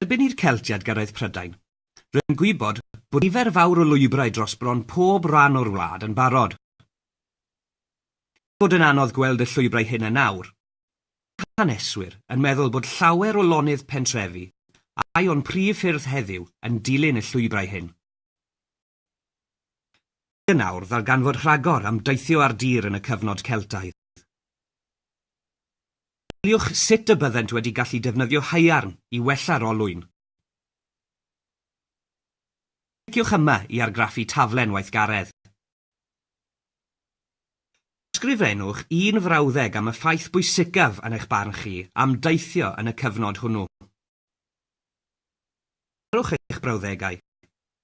Erbyn i'r Celtiaid gyrraedd Prydain, roedd yn gwybod bod nifer fawr o lwybrau dros bron pob rhan o'r wlad yn barod. Er bod yn anodd gweld y llwybrau hyn yn awr, mae haneswyr yn meddwl bod llawer o lonydd pentrefi a rhai o'n prif ffyrdd heddiw yn dilyn y llwybrau hyn. yn awr ddarganfod rhagor am deithio ar dir yn y cyfnod Celtaidd. Meddyliwch sut y byddent wedi gallu defnyddio haearn i wella'r olwyn. Cliciwch yma i argraffu taflen weithgaredd. Ysgrifennwch un frawddeg am y ffaith bwysicaf yn eich barn chi am deithio yn y cyfnod hwnnw. Darparwch eich brawddegau.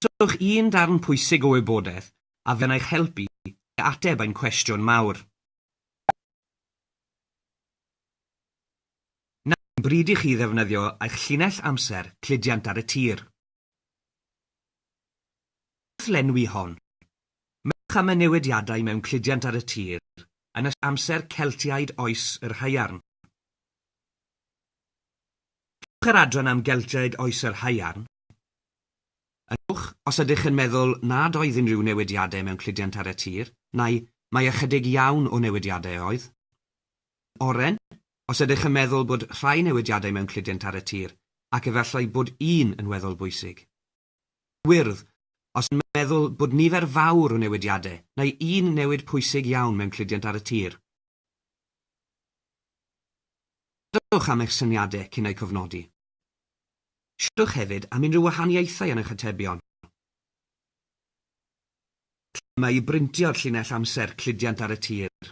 Rhowch un darn pwysig o wybodaeth a fydd yn eich helpu i ateb ein cwestiwn mawr. Nawr yw'r bryd i chi ddefnyddio eich llinell amser cludiant ar y tir. Wrth lenwi hon, meddyliwch am y newidiadau mewn cludiant ar y tir yn ystod amser Celtiaid Oes yr Haearn. Cewch yr adran am Geltiaid Oes yr Haearn yn uwch os ydych yn meddwl nad oedd unrhyw newidiadau mewn cludiant ar y tir, neu mai ychydig iawn o newidiadau oedd. Yn oren, os ydych yn meddwl bod rhai newidiadau mewn cludiant ar y tir, ac efallai bod un yn weddol bwysig. Gwyrdd, os yn meddwl bod nifer fawr o newidiadau, neu un newid pwysig iawn mewn cludiant ar y tir. Dowch am eich syniadau cyn eu cofnodi. Siaradwch hefyd am unrhyw wahaniaethau yn eich atebion. Clymu i brintio'r llinell amser cludiant ar y tir.